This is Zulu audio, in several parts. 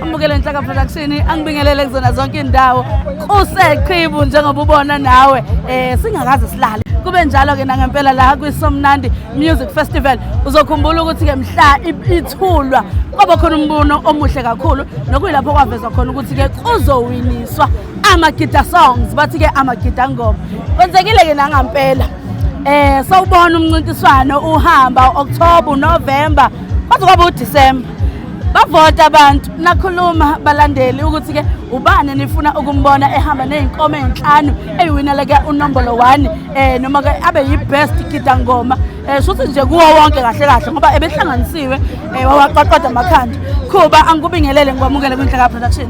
Amukele Nhlaka Production angibingelele kuzona zonke indawo kuseqhibu njengoba ubona nawe eh singakaze silale kube njalo ke nangempela la kwiSomnandi Music Festival uzokhumbula ukuthi ke mhla ithulwa kwaba khona umbuno omuhle kakhulu nokuyilapho kwavezwa khona ukuthi ke kuzowiniswa amagida songs bathi ke amagida ngoma kwenzekile ke nangampela eh sawubona umncintiswano uhamba October November kwaze kwaba uDecember bavota abantu nakhuluma balandeli ukuthi ke ubani nifuna ukumbona ehamba nezinkomo ezinhlanu eyiwinele ke unombolo 1 eh noma ke abe yibest kidangoma eh shuthi nje kuwo wonke kahle kahle ngoba ebehlanganisiwe eh, wawaqoqoda amakhanda khuba angikubingelele ngikwamukele kwinhlaka production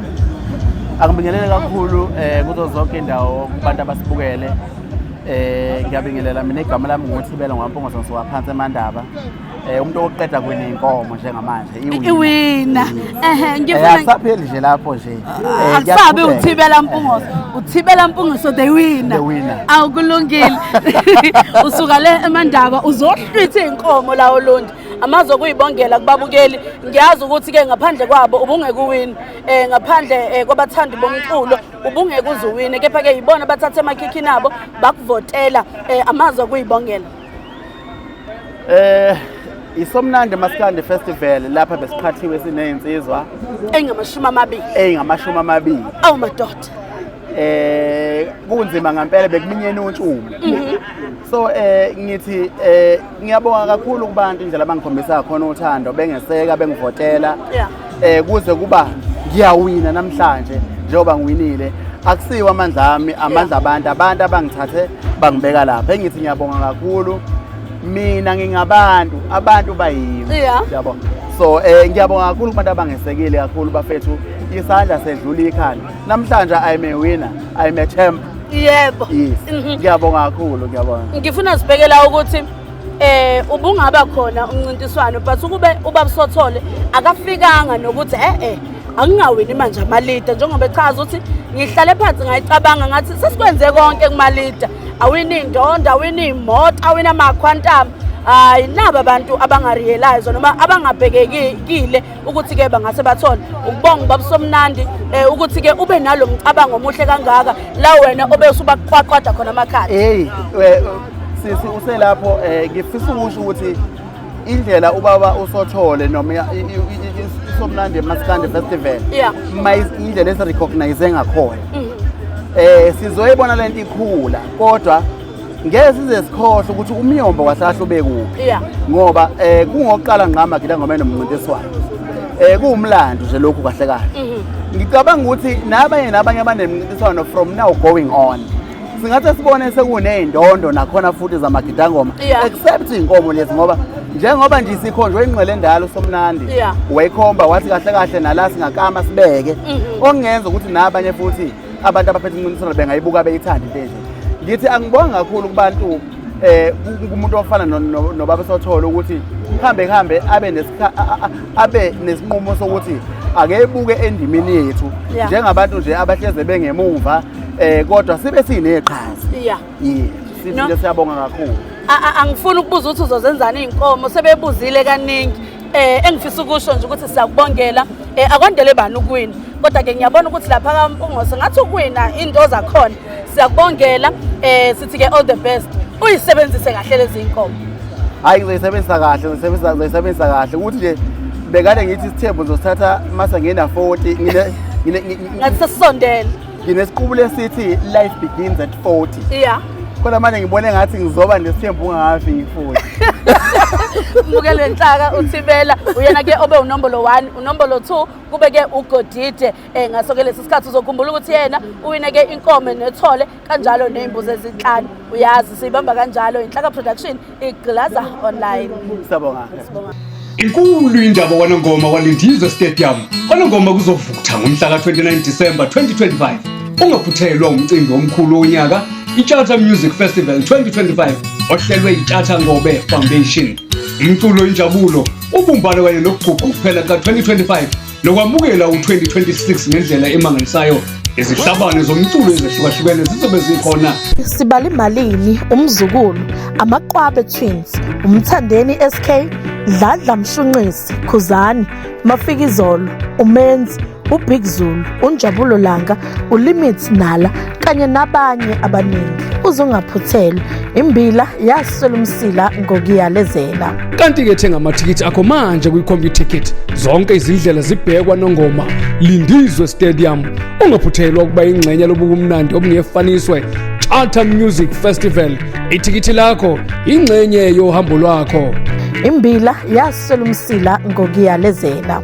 angibingelele kakhulu eh kuzo zonke indawo kubantu abasibukele eh ngiyabingelela mina igama lami nguthibela ngwampungosonso waphansi emandaba Eh umuntu oqeda kwini inkomo njengamanje iwina. Iwina. Ehhe ngifuna eh, akusapheli nje lapho nje. Ah, eh, akusabi uthibela mpungoso. Eh. Uthibela mpungoso they win. They win. Awukulungile. Usuka le emandaba uzohlwitha inkomo la olondi. amazi okuyibongela kubabukeli ngiyazi ukuthi ke ngaphandle kwabo ubungeke uwini eh ngaphandle eh, kwabathandi bomculo ubungeke uzuwine kepha ke yibona bathathe emakhikhini abo bakuvotela eh amazi okuyibongela Eh Isomnandi Maskandi Festival lapha besiqhathiwe sinezinsizwa engamashumi amabili. Engamashumi amabili. Awu madoda. Eh kunzima ngempela bekuminyene utshumo. Mhm. So eh ngithi eh ngiyabonga kakhulu kubantu indlela abangikhombisa khona uthando bengeseka bengivotela. Yeah. eh kuze kuba ngiyawina namhlanje njengoba ngiwinile akusiwo amandla ami amandla abantu abantu abangithathe bangibeka lapha engithi ngiyabonga kakhulu mina ngingabantu abantu bayimi Yeah. yabo so eh ngiyabonga kakhulu kubantu abangesekile kakhulu bafethu isandla sedlula ikhanda namhlanje i'm a winner i'm a champ yebo yes Mhm. ngiyabonga kakhulu ngiyabonga ngifuna sibhekela ukuthi eh ubungaba khona umncintiswano but ukube ubaba Sothole akafikanga nokuthi eh eh angingawini manje amalita njengoba echaza ukuthi ngihlale phansi ngayicabanga ngathi sesikwenze konke kumalita awini indondo awini imoto awina amakhwantama hayi naba abantu abangariyelayizo noma abangabhekekile ukuthi-ke bangase bathole ukubonga ubabusomnandi um eh, ukuthi-ke ube nalo mcabango omuhle kangaka la wena obe usubakwaqwada khona amakhadi eyi eh, sisi uselapho um eh, ngifisa ukusho ukuthi indlela ubaba usothole noma isomnandi masikande festival indlela esirecognize ngakhona um mm. sizoyibona le nto ikhula kodwa ngeke size sikhohle ukuthi umyombo kwahlahla ubekuphi yeah. ngoba eh kungokuqala ngqama gila ngoba enomncintiswano eh kuwumlando nje lokhu kahle kahle mm -hmm. ngicabanga ukuthi nabanye nabanye abanemncintiswano from now going on singathi sibone sekuney'ndondo nakhona futhi zamagidangoma yeah. except iy'nkomo lezi ngoba njengoba nje sikhonjwe ingqele endala usomnandi yeah. wayikhomba wathi kahle kahle nala singakama sibeke mm -hmm. okungenza ukuthi nabanye futhi abantu abaphethe umncintiswano bengayibuka beyithanda into enje ngithi angibongi kakhulu kubantu um eh, kumuntu ofana nobaba sothole ukuthi kuhambe kuhambe abe nesinqumo sokuthi akebuke endimini yethu njengabantu nje abahleze bengemuva um kodwa sibe sineqhaza ye sifile siyabonga kakhulu angifuni ukubuza ukuthi uzozenzani iy'nkomo sebebuzile kaningi eh engifisa ukusho nje ukuthi siyakubongela eh akwandele bani ukuwina kodwa ke ngiyabona ukuthi lapha kaMpungose ngathi ukuwina into zakhona siyakubongela eh sithi ke all the best uyisebenzise kahle lezi inkomo hayi ngizoyisebenzisa kahle ngizoyisebenzisa ngizoyisebenzisa kahle ukuthi nje bekade ngithi isithembu ngizosithatha mase ngina 40 ngine ngine ngathi sesondele nginesiqubulo esithi life begins at 40 yeah kodwa manje ngibone ngathi ngizoba nesithembu ungakafi ngifuthi muke le nhlaka uthibela uyena ke obe unombolo 1 unombolo 2 kube ke ugodide eh ngaso ke lesi sikhathi uzokhumbula ukuthi yena uwine ke inkomo nethole kanjalo nezimbuzi ezinhlanu uyazi siyibamba kanjalo inhlaka production Iglaza online. Siyabonga. Inkulu indaba kwanongoma kwaLindizwe Stadium. Kwanongoma kuzovutha ngomhla ka-29 December 2025. Ungaphuthelwa umcimbi omkhulu wonyaka iCharter Music Festival 2025 ohlelwe iCharter Ngobe Foundation. Umculo injabulo, ubumbano kanye nokuguquka kuphela ka-2025 Nokwamukela u-2026 ngendlela emangalisayo izihlabane zomculo ezehlukahlukene zizobe zikhona sibali malini umzukulu amaqwabe twins umthandeni sk dladla mshunqisi khuzani mafikizolo umenzi ubig zulu unjabulo langa uLimit Nala kanye nabanye abaningi uzungaphuthelwa imbila yaswela umsila ngokuyalezela kanti-ke thenga amathikithi akho manje kwi-computicket zonke izindlela zibhekwa nongoma lindizwe stadium ungaphuthelwa ukuba ingxenye lobukumnandi obungefaniswe charter music festival ithikithi lakho ingxenye yohambo lwakho imbila yaswela umsila ngokuyalezela